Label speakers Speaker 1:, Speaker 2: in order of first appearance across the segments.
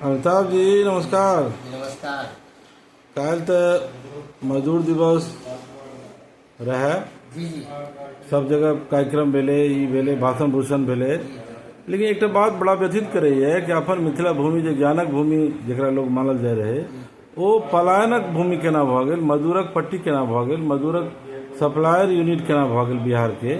Speaker 1: अमिताभ जी नमस्कार
Speaker 2: नमस्कार काल्हि
Speaker 1: तऽ मजदूर दिवस रहए जी जी
Speaker 2: सब जगह
Speaker 1: कार्यक्रम भेलै ई भेलै भाषण भूषण भेलै लेकिन एकटा बात बड़ा व्यथित करैए कि अपन मिथिला भूमि जे ज्ञानक भूमि जकरा लोक मानल जाय रहै ओ पलायनक भूमि केना भऽ गेल मजदूरक पट्टी केना भऽ गेल मजदूरक सप्लायर यूनिट केना भऽ गेल बिहारके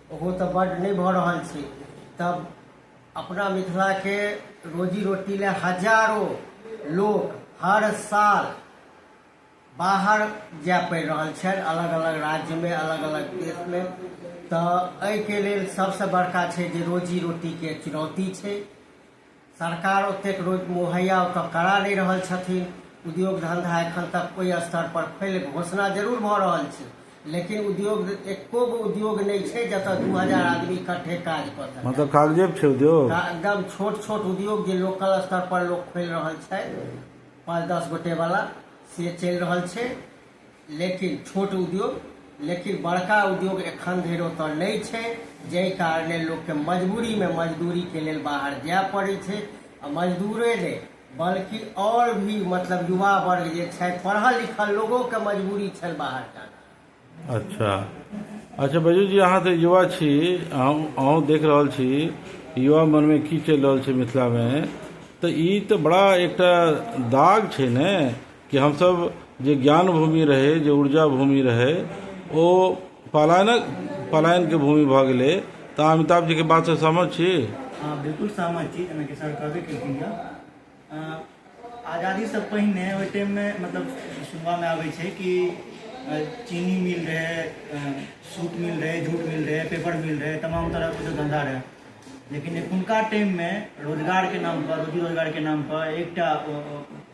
Speaker 2: ओहो तऽ बड्ड नहि भऽ रहल छै तब अपना मिथिलाके रोजी रोटी लए हजारो लोक हर साल बाहर जाय पड़ि रहल छनि अलग अलग राज्यमे अलग अलग देशमे तऽ एहिके लेल सभसँ बड़का छै जे रोजी रोटीके चुनौती छै सरकार ओतेक रोज मुहैया ओतऽ करा नहि रहल छथिन उद्योग धंधा एखन तक ओहि स्तर पर फैलि घोषणा जरूर भऽ रहल छै लेकिन उद्योग एको गो उद्योग नहि छै जतऽ दू हजार आदमी इकट्ठे काज कऽ सकए मतलब कागजे पे छै उद्योग
Speaker 1: का- एकदम छोट छोट
Speaker 2: उद्योग जे लोकल स्तर पर लोक खोलि रहल छै पाँच दस गोटे वाला से चलि रहल छै लेकिन छोट उद्योग लेकिन बड़का उद्योग एखन धरि ओतऽ नहि छै जाहि कारणे लोकके मजबूरीमे मजदूरीके लेल बाहर जाय पड़ै छै आ मजदूरे नहि बल्कि आओर भी मतलब युवा वर्ग जे छथि पढ़ल लिखल लोगोके मजबूरी छनि बाहर जाना अच्छा
Speaker 1: अच्छा बैजू जी अहाँ तऽ युवा छी अहूँ अहूँ देख रहल छी युवा मनमे की चलि रहल छै मिथिलामे तऽ ई तऽ बड़ा एकटा दाग छै ने कि हमसभ जे ज्ञान भूमि रहै जे ऊर्जा भूमि रहै ओ पलायनक पलायनके भूमि भऽ गेलै तऽ अहाँ अमिताभ जीके बातसँ सहमत छी हँ बिल्कुल
Speaker 3: सहमत छी जेनाकि सर कहबे केलखिन यऽ अँ, आजादीसँ पहिने ओहि टाइममे मतलब सुनबामे आबै छै कि अँ, चीनी मिल रहै अँ, सूत मिल रहै जूट मिल रहै पेपर मिल रहै तमाम तरहके जो धंधा रहै लेकिन एखुनका टाइममे रोजगारके नाम पर रोजी रोजगारके नाम पर एकटा अँ, अँ,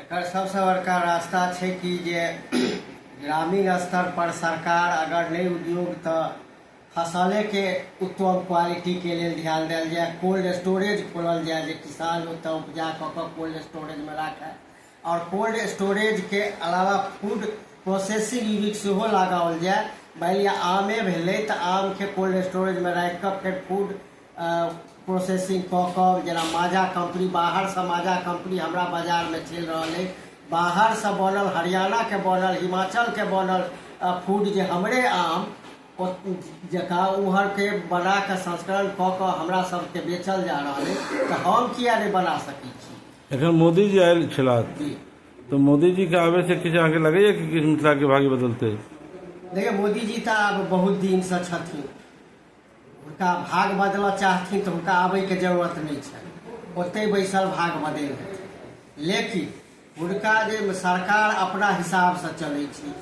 Speaker 2: एकर सबसँ बड़का रास्ता छै कि जे ग्रामीण स्तर पर सरकार अगर नहि उद्योग तऽ फसले के उत्तम क्वालिटी के लेल ध्यान देल जाय कोल्ड स्टोरेज खोलल जाय जे किसान ओतऽ उपजा कऽ कऽ कोल्ड स्टोरेज मे राखय आओर कोल्ड स्टोरेज के अलावा फूड प्रोसेसिंग यूनिट सेहो लगाओल जाय मानि लिअ आमे भेलै तऽ आम के कोल्ड स्टोरेज मे राखि कऽ फेर फूड प्रोसेसिंग कऽ कऽ जेना माजा कम्पनी बाहरसँ माजा कम्पनी हमरा बाजारमे चलि रहल अइ बाहरसँ बनल हरियाणाके बनल हिमाचलके बनल फूड जे हमरे आम जकाँ ओहरके बना कऽ संस्करण कऽ कऽ हमरा सभके बेचल जा रहल अइ तऽ हम किया नहि बना सकै छी एखन मोदीजी
Speaker 1: आयल छलाह तऽ मोदीजीके आबैसँ किछु अहाँके लगैए कि किछु मिथिलाके भाग्य बदलतै देखियौ
Speaker 2: मोदीजी तऽ आब बहुत दिनसँ छथिन हुनका भाग बदलऽ चाहथिन तऽ हुनका आबैके जरूरत नहि छनि ओतहि बैसल भाग बदलि देथिन लेकिन हुनका जे सरकार अपना हिसाबसँ चलै छै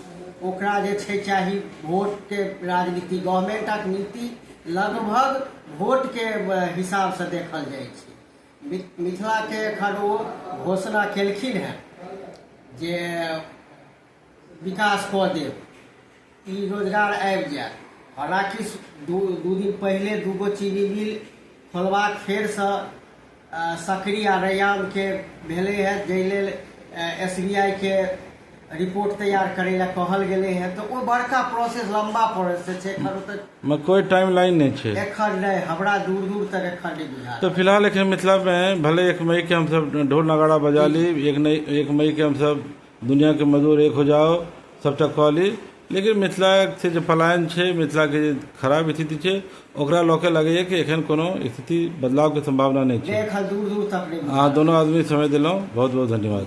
Speaker 2: ओकरा जे छै चाही भोटके राजनीति गवर्मेंटक नीति लगभग भोटके हिसाबसँ देखल जाइ छै मिथिलाके एखन ओ घोषणा केलखिन हेँ जे विकास कऽ देब ई रोजगार आबि जायत हालांकि दू दू दिन पहिले दूगो चीनी मिल खोलबाक फेरसँ सकरी आ रैयामके भेलै है जाहि लेल एस बी आई के रिपोर्ट तैयार करै लए कहल गेलै है तऽ ओ बड़का प्रोसेस लंबा प्रोसेस छै एखन ओतऽ मे कोई टाइम लाइन नहीं
Speaker 1: छे एखन नहि हमरा
Speaker 2: दूर दूर तक एखन नहि बुझायल तो फिलहाल एखन मिथिला
Speaker 1: में भले एक मई के हम सब ढोल नगाड़ा बजा ली एक नहीं एक मई के हम सब दुनियाके मजदूर एक हो जाओ सभटा कऽ ली लेकिन मिथिलाके जे पलायन छै मिथिलाके जे खराब स्थिति छै ओकरा लऽ कऽ लगैए कि एखन कोनो स्थिति बदलावके सम्भावना
Speaker 2: नहि
Speaker 1: छै अहाँ
Speaker 2: दुनू
Speaker 1: आदमी समय देलहुँ बहुत बहुत
Speaker 2: धन्यवाद